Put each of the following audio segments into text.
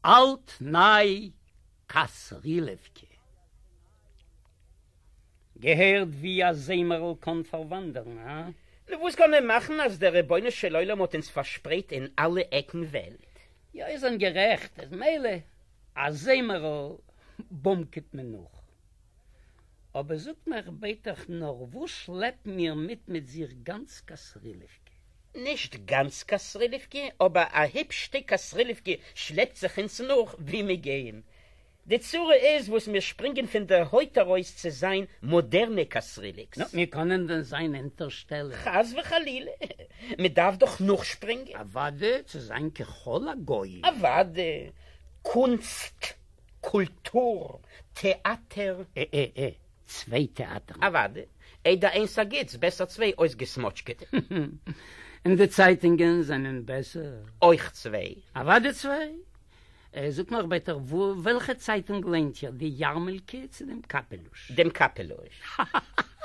אלט ניי קאסרילעווקע. געהערט ווי א זעמערל קאן פארוואנדערן, הא? נו וואס קען מען מאכן אז דער רבונו של עולם האט אונז פארשפרייט אין אלע עקן וועלט. יא איר זענט גערעכט, אז מילא א זעמערל באמקעט מען נאך, אבער זאגט מיך ביטעך נאר וואס שלעפן מיר מיט מיט זיך גאנץ קאסרילעווקע? נישט גאנץ קאסריווקי, אבער א היפש שטיק קאסריווקי שלעפט זיך אונז נאך ווי מיר גייען. די צרה איז וואס מיר שפרינגען פון דער הויט ארויס צו זיין מאדערנע קאסריווקס. נו, מיר קענען דען זיין אונטערשטעלער? חס וחלילה! מען דארף דאך נאכשפרינגען. אוואדע, צו זיין ככל הגויים. אוואדע, קונסט, קולטור, טעאטער. ע ע ע. צוויי טעאַטערן. אַוואַדע, איידער איינס אַ גוטס, בעסער צוויי אויסגעסמאָטשקעטע. און די צייטונגען זענען בעסער? אויך צוויי. אַוואַדע צוויי. זאָגט נאָך ביטע, וועלכע צייטונג ליינט איר, די יאַרמעלקע צי דעם קאַפּעלוש? דעם קאַפּעלוש.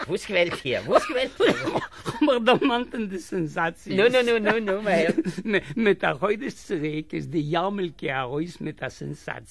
וואָס וועלט איר? וואָס וועלט איר? כ'האָב מיך דערמאַנט אין די סענזאַציעס. נו, נו, נו, נו, מע הערט. מיט אַ חודש צוריק איז די יאַרמעלקע אַרויס מיט אַ סענזאַציע.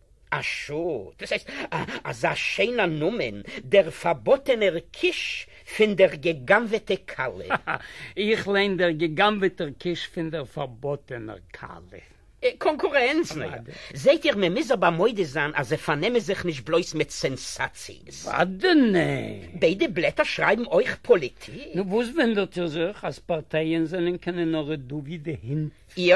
אשא, דאס הייסט אזא שיינע נאמען, דער פארבאטענער קיש פין דער געגאנוועטע כלה. הא הא, איך ליין דער געגאנוועטער קיש פין דער פארבאטענער כלה. קאנקורענץ, נאר זעהט איר מען מיז אבער מודה זיין אז זיי פארנעמען זיך נישט בלויז מיט סענסאציעס. וואדענען! ביידע בלעטער שרייבן אויך פאליטיק. נו וואס וואונדערט איר זיך אז פארטייען זענען קיינע נארע דובי די הינט? יא,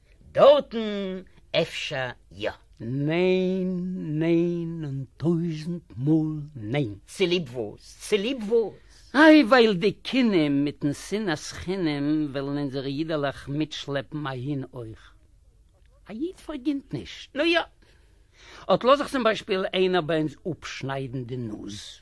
דארטן אפשר יא. ניין, ניין און טויזנט מאל ניין! צוליב וואס? צוליב וואס? איי ווייל די קינים מיטן שנאת חינם ווילן אונזערע אידעלעך מיטשלעפן אהין אויך. א איד פארגינט נישט, נו יא. אט לאז זיך צום ביישפיל איינער ביי אונז אפשניידן די נאז.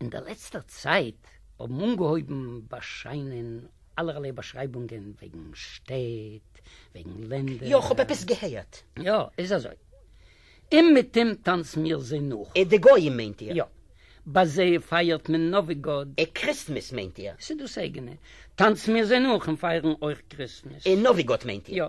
אין דער לעצטער צייט האבן אנגעהויבן באשיינען אלערליי באשרייבונגען וועגן שטעט, וועגן לענדער. יא, כ'האב עפעס געהערט. יא, איז אזוי. אומעטום טאנצן מיר זיי נאך. די גויים מיינט איר? יא. ביי זיי פייערט מען נאווי גאד. און קריסטמעס מיינט איר? ס'איז דאס אייגענע. טאנצן מיר זיי נאך און פייערן אויך קריסטמעס. און נאווי גאד מיינט איר? יא.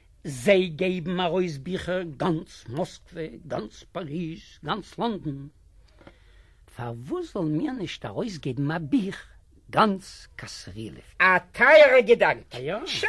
זיי געבן ארויס ביכער גאנץ מאסקווע, גאנץ פאריז, גאנץ לאנדאן, פארוואס זאלן מיר נישט ארויסגעבן א בוך גאנץ קאסרילעווקע? א טייערע געדאנק! טשא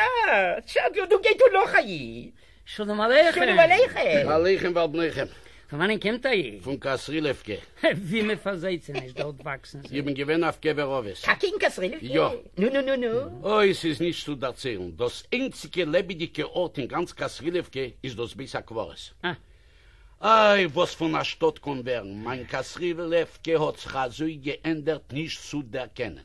טשא, דא גייט אן נאך א איד. שלום עליכם. שלום עליכם. עליכם ועל בניכם. פון וואנען קומט א איד? פון קאסרילעווקע. ווי מען פארזעהט זיי נישט דארט וואקסן זיי. איך בין געווען אויף קבר אבות. טאקע אין קאסרילעווקע? יא. נו נו נו נו. אוי ס'איז נישט צו דערציילן. דאס איינציגע לעבעדיגע ארט אין גאנץ קאסרילעווקע איז דאס בית הקברות. אה. איי וואס פון א שטאט קען ווערן. מיין קאסרילעווקע האט זיך אזוי געענדערט נישט צו דערקענען.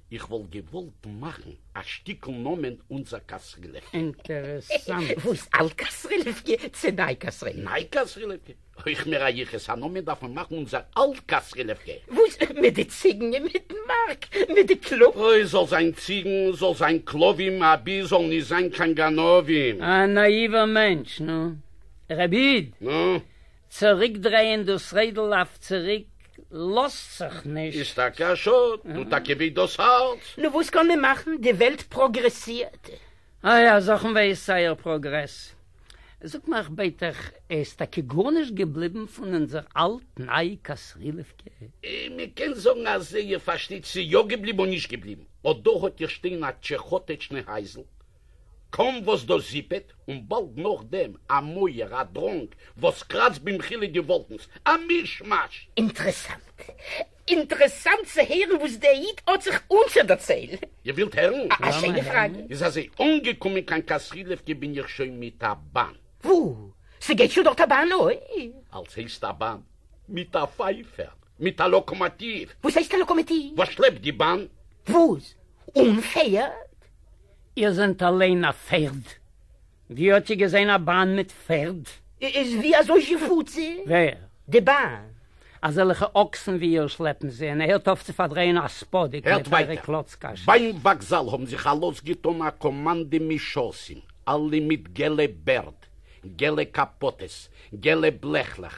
איך וואלט געוואלט מאכן א שטיקל נאמען אונזער קאסרילעווקע. אינטערעסאנט. וואס? אלט קאסרילעווקע צו ניי קאסרילעווקע? ניי קאסרילעווקע? אויך מיר א יחוס, א נאמען דארף מען מאכן אונזער אלט קאסרילעווקע. וואס מיט די ציגן און מיטן מארק מיט די קלאפ? אוי, זאל זיין ציגן, זאל זיין כלבים, אבי זאלן נישט זיין קיין גנבים. א נאיווער מענטש, נו. רבי איד! נו? צוריקדרייען דאס רעדל אויף צוריק לאזט זיך נישט. איז טאקע א שאד, נו טאקע וועט דאס הארץ. נו וואס קען מען מאכן, די וועלט פראגרעסירט. איי א זאך און וועיז זייער פראגרעס. זאג נאר איך בעט דיך, איז טאקע גארנישט געבליבן פון אונזער אלט ניי קאסרילעווקע? מען קען זאגן אז איר פארשטייט ס'איז יא געבליבן און נישט געבליבן, אט דא האט איר שטיין א טשעכאטעטשנע הייזל, קאָן וואָס דאָס זיפּעט, און באַלד נאָך דעם אַ מויער, אַ דראָנג, וואָס קראַצט במחילה די וואָלקנס. אַ מיש-מאַש! אינטערעסאַנט. אינטערעסאַנט צו הערן וואָס דער איד האָט זיך אָנצודערציילן. איר ווילט הערן? אַ שיינע פֿראַגע. איז אַזוי, אָנגעקומען קיין קאַסרילעווקע בין איך שוין מיט אַ באַן. וואו? ס'גייט שוין דאָרט אַ באַן? אוי! אַלץ הייסט אַ באַן. מיט אַ פֿײַפֿער. מיט אַ לאָקאָמאָטיוו. וואָס הייסט אַ לאָקאָמאָטיוו? וואָס שלעפּט די באַן. וואָס? אָנפֿערד? איר זענט אַליין אַ פערד? ווי האָט איר געזען אַ באַן מיט פערד? איז ווי אַזוי זי פאָרט זי? ווער? די באַן. אַזעלכע אָקסן ווי איר שלעפּן זי, און ער הערט אויף צו פאַרדרייען אַ ספּאָדיק מיט אייערע קלאָצקעשעס. ביים וואָקזאַל האָבן זיך אַלויס געטאָן אַ קאָמאַנדע משרתים, אַלע מיט געלע בערד, געלע קאַפּאָטעס, געלע בלעכלעך,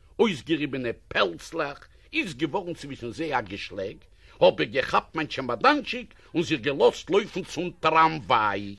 אױסגעריבענע פּעלצלעך, איז געװאָרן צװישן זײ אַ געשלעג, האָב איך געכאַפּט מײַן טשעמאָדאַנטשיק און זיך געלאָזט לױפֿן צום טראַמװײַ.